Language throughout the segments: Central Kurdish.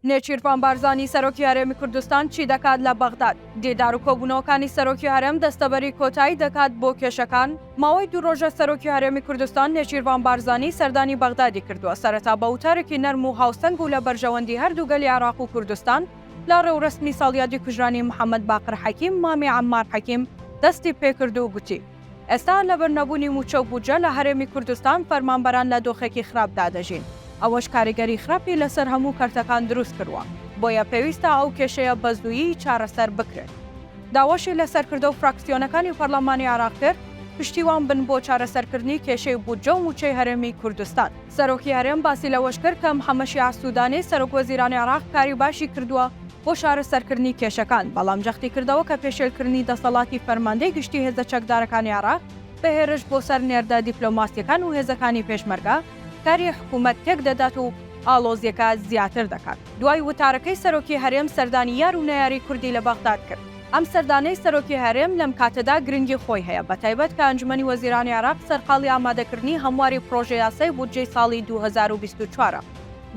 نێچیرڤان بارزانی سەرۆکی هەرێمی کوردستان چی دەکات لە بەغداد؟ دیدار و کۆبوونەوەکانی سەرۆکی هەرێم دەستەبەری کۆتایی دەکات بۆ کێشەکان؟ ماوەی دوو ڕۆژە سەرۆکی هەرێمی کوردستان نێچیرڤان بارزانی سەردانی بەغدادی کردووە، سەرەتا بە وتارێکی نەرم و هاوسەنگ و لە بەرژەوەندی هەردوو گەلی عێراق و کوردستان لە ڕێوڕەسمی ساڵیادی کوژرانی محەممەد باقر حەکیم مامی عەممار حەکیم دەستی پێکرد و گوتی، ئێستا لەبەر نەبوونی مووچە و بودجە لە هەرێمی کوردستان فەرمانبەران لە دۆخێکی خراپدا دەژین، ئەوەش کاریگەری خراپی لەسەر هەموو کەرتەکان دروست کردووە، بۆیە پێویستە ئەو کێشەیە بە زوویی چارەسەر بکرێت. داواشی لە سەرکردە و فراکسیۆنەکانی پەرلەمانی عێراق کرد، پشتیوان بن بۆ چارەسەرکردنی کێشەی بودجە و مووچەی هەرێمی کوردستان. سەرۆکی هەرێم باسی لەوەشکرد کە محەممەد شیاع سوودانی، سەرۆکوەزیرانی عێراق کاری باشی کردووە بۆ چارەسەرکردنی کێشەکان، بەڵام جەختیکردەوە کە پێشێلکردنی دەسەڵاتی فەرماندەی گشتی هێزە چەکدارەکانی عێراق بە هێرش بۆ سەر نێردە دیپلۆماسییەکان و هێزەکانی پێشمەرگە کاری حکوومەت تێکدەدات و ئاڵۆزییەکە زیاتر دەکات. دوای وتارەکەی سەرۆکی هەرێم سەردانی یار و نەیاری کوردی لە بەغداد کرد. ئەم سەردانەی سەرۆکی هەرێم لەم کاتەدا گرنگی خۆی هەیە، بەتایبەت کە ئەنجومەنی وەزیرانی عێراق سەرقاڵی ئامادەکردنی هەمواری پڕۆژە یاسای بودجەی ساڵی دوو هەزار و بیست و چوار ە،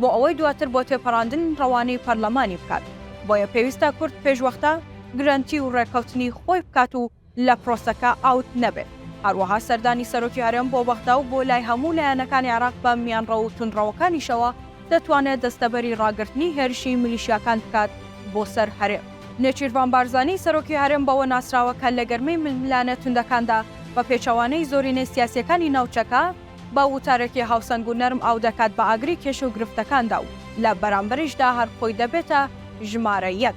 بۆ ئەوەی دواتر بۆ تێپەڕاندن ڕەوانەی پەرلەمانی بکات، بۆیە پێویستە کورد پێشوەختە گرەنتی و ڕێککەوتنی خۆی بکات و لە پرۆسەکە ئاوت نەبێت، هەروەها سەردانی سەرۆکی هەرێم بۆ بەغدا و بۆ لای هەموو لایەنەکانی عێراق بە میانڕەو و توندڕەوەکانیشەوە دەتوانێت دەستەبەری ڕاگرتنی هێرشی میلیشیاکان بکات بۆ سەر هەرێم. نێچیرڤان بارزانی سەرۆکی هەرێم بەوە ناسراوە کە لە گەرمەی ململانێ توندەکاندا بە پێچەوانەی زۆرینەی سیاسییەکانی ناوچەکە بە وتارێکی هاوسەنگ و نەرم ئاو دەکات بە ئاگری کێشە و گرفتەکاندا و لە بەرامبەریشدا هەر خۆی دەبێتە ژمارە یەک.